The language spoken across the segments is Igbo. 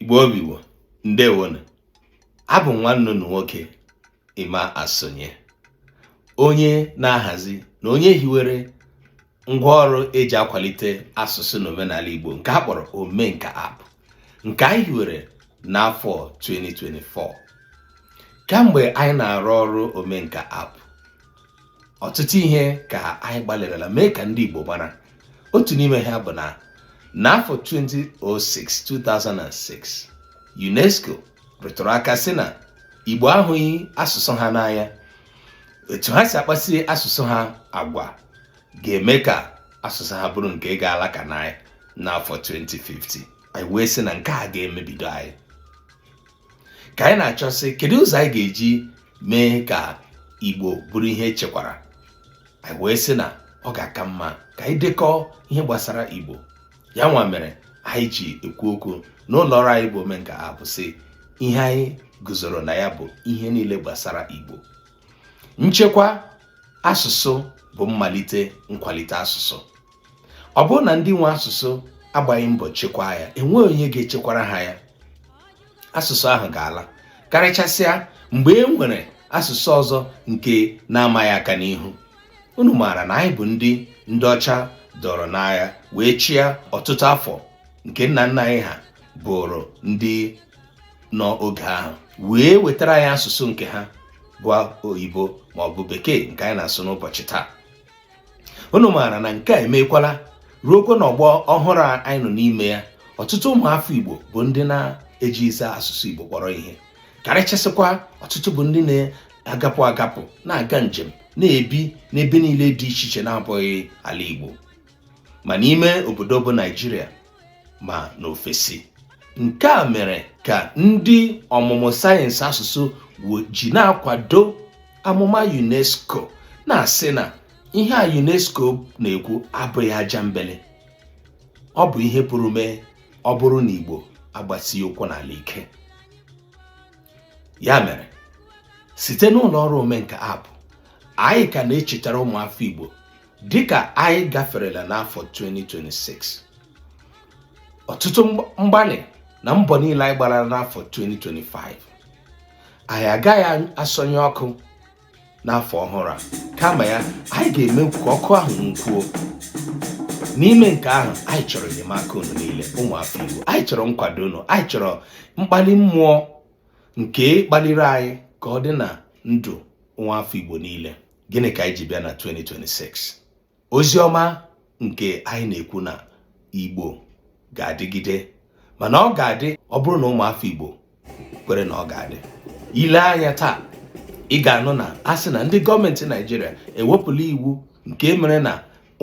igbo bụ igbo ndewonu abụ m nwanne unu nwoke emma asonye onye na-ahazi na onye hiwere ngwaọrụ eji akwalite asụsụ na omenala Igbo nke a kpọrọ Omenka app nke anyị hiwere n'afọ 2024 kamgbe anyị na-arụ ọrụ Omenka app ọtụtụ ihe ka anyị gbalịrịla mee ka ndị Igbo mara otu n'ime ha bụ na n'afọ 2006 2006 UNESCO rụtụrụ aka sị na Igbo ahụghị asụsụ ha n'anya etu ha si akpasi asụsụ ha agwa ga-eme ka asụsụ ha bụrụ nke ga-ala ka naị n'afọ 2050 anyị wee sị na nke a ga-emebido anyị ka anyị na-achọsị kedu ụzọ anyị ga-eji mee ka igbo bụrụ ihe echekwara anyị wee sị na ọ ga-aka mma ka anyị dekọọ ihe gbasara igbo ya nwa mere anyị ji ekwu okwu n'ụlọ ọrụ anyị bụ omenka app sị ihe anyị guzoro na ya bụ ihe niile gbasara igbo nchekwa asụsụ bụ mmalite nkwalite asụsụ ọ bụrụ na ndị nwe asụsụ agbaghị mbọ chekwaa ya enweghị onye ga-echekwara ha ya asụsụ ahụ ga-ala karịchasịa mgbe e nwere asụsụ ọzọ nke na-ama ya aka n'ihu unu maara na anyị bụ ndị ndị ọcha dọrọ n'agha wee chịa ọtụtụ afọ nke nna nna anyị ha bụrụ ndị nọ oge ahụ wee wetara anyị asụsụ nke ha bụ oyibo ma ọ bụ bekee nke anyị na-asụ n'ụbọchị taa unu maara na nke a emekwala ruokwa n'ọgbọ ọhụrụ anyị nọ n'ime ya ọtụtụ ụmụafọ Igbo bụ ndị na-ejighịzi asụsụ Igbo kpọrọ ihe karịchasịkwa ọtụtụ bụ ndị na-agapụ agapụ na-aga njem na-ebi n'ebe niile dị iche iche na-abụghị ala Igbo ma n'ime obodo bụ Naijiria ma n'ofesi nke a mere ka ndị ọmụmụ sayensị asụsụ ji na-akwado amụma UNESCO na-asị na ihe a UNESCO na-ekwu abụghị ajambele ọ bụ ihe pụrụ mee ọ bụrụ na Igbo agbasighị ụkwụ n'ala ike ya mere site n'ụlọ ọrụ omenka app anyị ka na-echetara ụmụafọ Igbo dịka anyị gaferela n'afọ 2026 ọtụtụ mgbalị na mbọ niile anyị gbara n'afọ 2025 anyị agaghị asọnyụ ọkụ n'afọ ọhụrụ a kama ya anyị ga-eme ka ọkụ ahụ nwukwuo n'ime nke ahụ anyị chọrọ enyemaka unu niile ụmụ afọ Igbo anyị chọrọ nkwado unu anyị chọrọ mkpali mmụọ nke kpaliri anyị ka ọ dị na ndụ nwa afọ Igbo niile gịnị ka anyị ji bịa na 2026 ozi ọma nke anyị na-ekwu na igbo ga-adịgide mana ọ ga-adị ọ bụrụ na ụmụafọ igbo kwere na ọ ga-adị i lee anya taa ị ga-anụ na a sị na ndị gọọmenti naijiria ewepụla iwu nke e mere na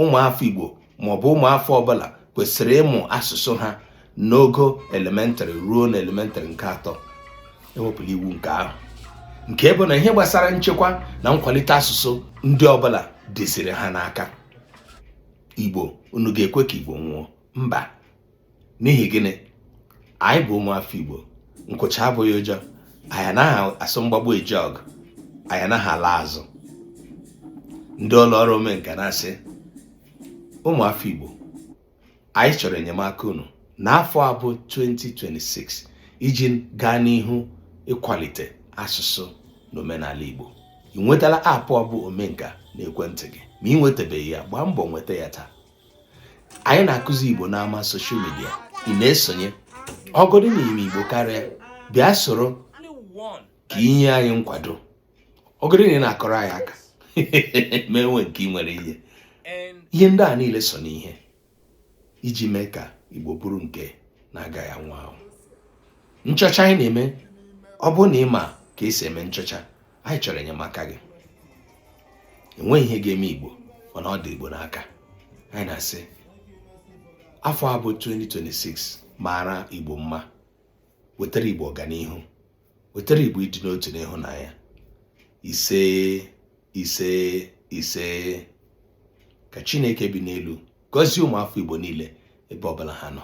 ụmụafọ Igbo maọbụ ụmụafọ ọbụla kwesịrị ịmụ asụsụ ha n'ogo elementrị ruo na elementrị nke atọ ewepụla iwu nke ahụ nke bụ na ihe gbasara nchekwa na nkwalite asụsụ ndị ọbụla dịziri ha n'aka Igbo unu ga-ekwe ka Igbo nwụọ mba n'ihi gịnị anyị bụ ụmụafọ Igbo nkụcha abụghị ụjọ anyị anaghị asọ mgbagbu eje ọgụ anyị anaghị ala azụ ndị ụlọ ọrụ omenka na-asị ụmụafọ Igbo anyị chọrọ enyemaka unu n'afọ a bụ 2026 iji gaa n'ihu ịkwalite asụsụ na omenala Igbo ị nwetala aapụ ọ bụ omenka n'ekwentị gị ma ị nwetabeghị ya gbaa mbọ nweta ya taa anyị na-akụzi igbo n'ama soshal midia ị na-esonye ọ bụgodu na ị ma igbo karịa bịa soro ka i nye anyị nkwado ọ bụgodu na ị na-akụrụ anyị aka ma e nwee nke ị nwere ihe ihe ndị a niile so n'ihe iji mee ka igbo bụrụ nke na-agaghị anwụ anwụ nchọcha anyị na-eme ọ bụrụ na ị ma ka esi eme nchọcha anyị chọrọ enyemaka gị enweghị ihe ga-eme igbo mana ọ dị igbo n'aka anyị na-asị afọ a bụ 2026 maara igbo mma wetara igbo ọganihu wetara igbo ịdị n'otu na ịhụnanya ise ise ise ka chineke bi n'elu gọzie ụmụafọ igbo niile ebe ọbụla ha nọ